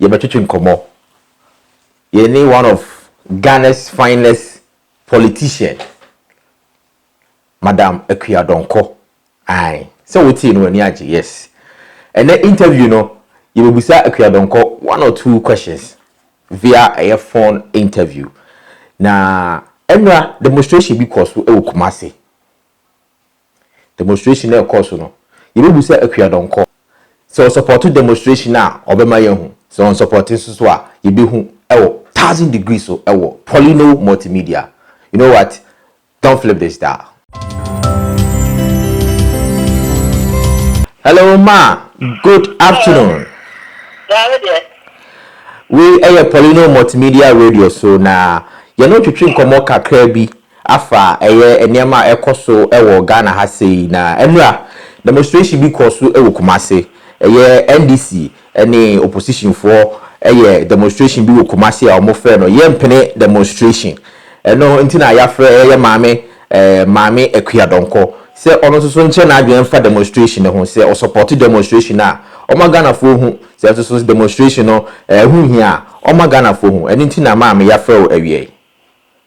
yɛbɛtwetwe nkɔmmɔ. Yɛne one of Ghana's finest politician, Madam Akua Donkor. Ae, sɛ wotee no w'ani agye, yes. Ɛnnɛ interview no, yɛbɛbisa Akua Donkor one or two questions via ɛyɛ phone interview. Na ɛnora demonstration bi kɔɔ so wɔ Kumasi. Demonstration no ɛkɔɔ so no, yɛbɛbu sɛ Akua Donkor. Sɛ ɔsɔpɔto demonstration a, ɔbɛma yɛahu. Sɛ ɔnsɔpɔte nso so a, yɛbɛhu wɔ Thousand Degrees so wɔ Polino Multimedia. You know what? Don't flip this dial. Hello ma, good afternoon. Dabi deɛ. Wei ɛyɛ Polino Multimedia Radio so na yɛne twetwe nkɔmmɔ kakra bi afa ɛyɛ nneɛma a ɛkɔ so wɔ Ghana ha sei na ɛnora demonstration bi kɔɔ so wɔ Kumasi ɛyɛ NDC ne opposition foɔ yɛ demonstration bi wɔ Kumasi a wɔn frɛ no Yɛmpene demonstration ɛno nti na yafrɛ yɛ maame eh, maame Akua Dɔnkɔ sɛ ɔno nso so nkyerɛ n'adwene mfa demonstration no ho sɛ ɔsupporte demonstration no a ɔma Ghanafoɔ hu sɛ nso so demonstration no eh, ho hia a ɔma Ghanafoɔ hu ɛno nti na maame yafrɛ wo awiɛ yi.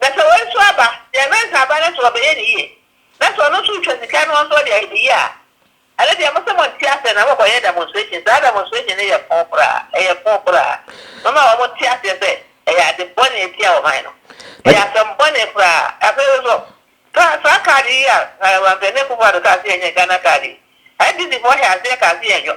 Na sɛ wei nso aba, deɛ ɛbɛnsa aba no nso ɔbɛyɛ ne yie, na sɛ ɔno nso retwa sika no nso ɔde ayɛ ne yie a, ɛno deɛ mo sɛ monte aseɛ na mokɔyɛ demonstration, saa demonstration no yɛ foo koraa, ɛyɛ foo koraa, moma wɔn nte aseɛ sɛ ɛyɛ ade bɔne atia ɔman no, ɛyɛ asɛm bɔne koraa, afei nso kaa saa card yi a Nana Boakye ne Kufuor kaa sɛ yɛnyɛ Ghana card yi, NDC foɔ hyɛɛ aseɛ kaa sɛ yɛnyɔ.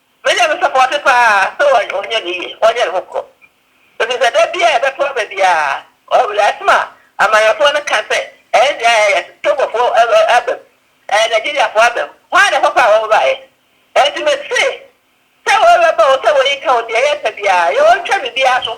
Menya no sɔpɔɔte paa sɛ ɔnyɛ ne yie, ɔnyɛ ne ho korɔ. Ɛfiri sɛ da biara a yɛbɛto aba biara, ɔyɛ asɛm a amanyɔfoɔ no ka sɛ, Ɛnneɛ ɛyɛ Togofoɔ aba mu, ɛyɛ Nigeriafoɔ aba mu. Hwan na ɛhɔ paa wɔbaeɛ? Ɛnti mese sɛ wɔbɛba o, sɛ wɔyi ka o, deɛ yɛpɛ biara, yɛntwa biribiara so.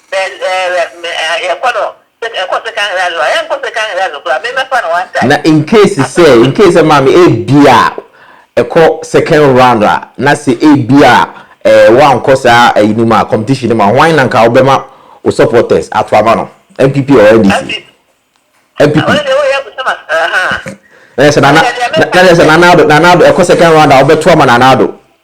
Na in case sɛ in case sɛ maame ebia ɛkɔ second round a na sɛ ebia ɛɛ wankɔ saa ɛyi no mu a competition no mu a hwan na nka wobɛma wo supporters ato ama no NPP or NDC? NPP. Na yɛ sɛ Nana na yɛ sɛ Nana Addo Nana Addo ɛkɔ second round a wobɛto ama Nana Addo?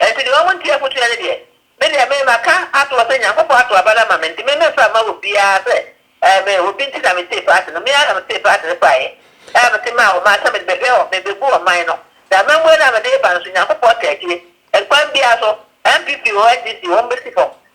Enti deɛ wɔntie afotuo no deɛ, me deɛ me, maka ato hɔ sɛ Nyankopɔn ato aba no ama me, nti me memfa mma obiara sɛ ɛɛ me, obi nti na metee paati no, me ara na metee paati no faeɛ, ɛna mete maa wɔn maa sɛ mede bɛhwɛ wɔn, mebɛbu ɔman no, na amammue no a mede reba no nso, Nyankopɔn taa akyire, kwan biara so, NPP oo, NDC oo, wɔn bɛsi fam,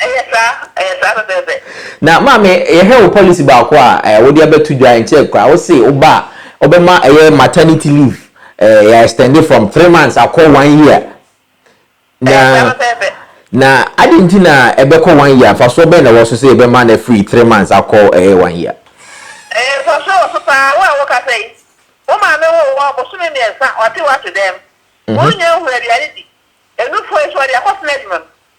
Ɛyɛ saa, ɛyɛ saa pɛpɛɛpɛ. Na maame yɛhwɛ wo policy baako a eh, wode abɛto dwa nkyɛ koraa wo se wo ba a wobɛma ɛyɛ maternity leave eh, yɛ extend from three months akɔ one year na na ade nti na ɛbɛkɔ one year mfasoɔ bɛn na ɛwɔ so sɛ yɛbɛma no afiri three months akɔ ɛyɛ one year eh, mfasoɔ wɔ so paa wo a woka sɛ yi wo maame wo wɔ bosome mmiɛnsa ɔte wate dɛm mhm. wonya nhura aduane di ɛnufoɔ yi so ɔde akɔsena adwuma mu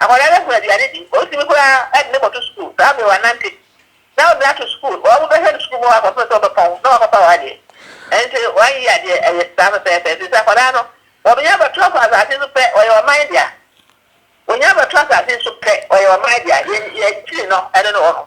Akwadaa no hu aduane di, osi bi koraa ɛde no kɔto sukuu, saa bere wannante, na ɔde no ato sukuu, wɔn mo bɛhwɛ no sukuu mu hɔ akɔpem sɛ ɔbɛpɔn na wakɔfa wɔn adeɛ, ɛnti wɔn yi adeɛ ɛyɛ saa pɛpɛɛpɛ, ɛfiri sɛ akwadaa no wɔnya bɛto kɔ asase so pɛ ɔyɛ ɔman dea, wɔnya bɛto asase so pɛ ɔyɛ ɔman dea, yɛn yɛn kyiri no ɛno ne wɔnom.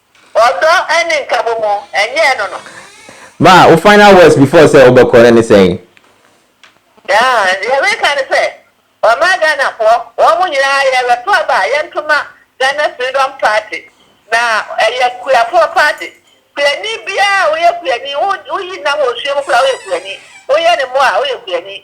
Ɔdɔ ne nkabomu, ɛnyɛɛ no no. Ma wo final words before sɛ wobɛkɔ no ne sɛn? Yaa, deɛ meka ne sɛ, wɔma Ghanafoɔ, wɔn mo nyinaa yɛrebɛto aba a yɛnto ma Ghana Freedom Party, na ɛyɛ kuafoɔ party. Kuani biara a woyɛ kuani, woyi nam wɔ osuo mu koraa woyɛ kuani, woyɛ ne mmoa a woyɛ kuani.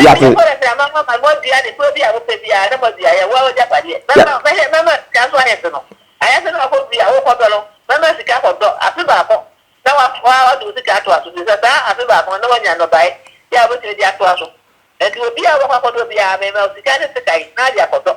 Yɛapo. Mɛma Kores ne amanaman ma wɔadua ne kurow bi a wopɛ biara, na moadua ayɛ wo agyapadeɛ. Mɛma, mɛhɛ, mɛma sika so ahemfo no ayase no akɔ bi a wokɔdɔ no, mɛma sika akɔdɔ afe baako, na wa, wa, wode wo sika atoa so, efisɛ saa afe baako no na woanya nnɔbae bi a wobɛtumi de atoa so. Enti obiara a wobɛkɔ akɔdɔ biara, mema wo sika ne sekan, na ade akɔdɔ.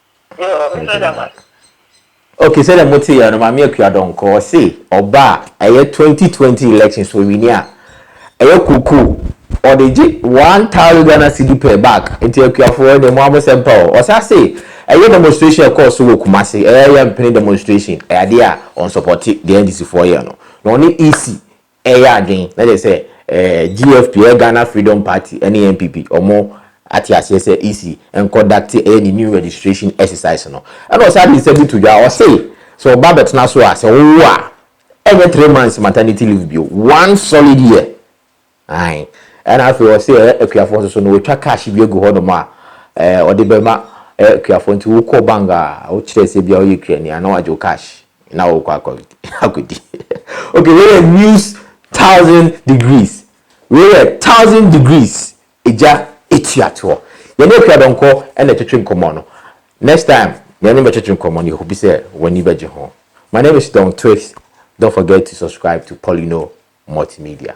ok sɛdeɛ mo te yɛ no maame akua dɔnkɔ ɔse ɔba a ɛyɛ 2020 election so ɔwini a ɛyɛ koko ɔde gye one thousand ghana cedi per bag nti akuafoɔ deɛ mo amo sɛm pa o ɔsa se ɛyɛ demonstration ɛkɔɔ so wɔ kumase ɛyɛ yɛ mpene demonstration ɛyɛ adeɛ a ɔnsɔpɔte deɛ ndisifoɔ yɛ no na ɔne ec Ɛyɛ aden na kyerɛ sɛ GFP, ɛyɛ Ghana Freedom Party ne NPP, ɔmo ate aseɛ sɛ EC nkɔdakte ɛyɛ ne new registration exercise no. Ɛna ɔsan de nsɛm bi to dwa, ɔse sɛ ɔba abɛtena so a, sɛ wowo a, ɛnyɛ three months maternity leave bio, one solid year. Ae. Ɛna afei ɔse ɛyɛ akuafoɔ nso so no, watwa cash bi agu hɔnom a ɔde bɛma akuafoɔ, nti wokɔ bank a, wokyerɛ sɛ bia woyɛ kuani a na wagye wo cash. na wokɔ akɔ akɔdi okay wei yɛ news thousand degrees wei yɛ thousand degrees egya etua toɔ yɛne akua dɔnkɔ ɛna ɛtwetwe nkɔmmɔ no next time yɛne bɛtwetwe nkɔmmɔ no yɛhopi sɛ w'ani bɛgye ho my name is Don Twix don't forget to subscribe to Paulino Multimedia.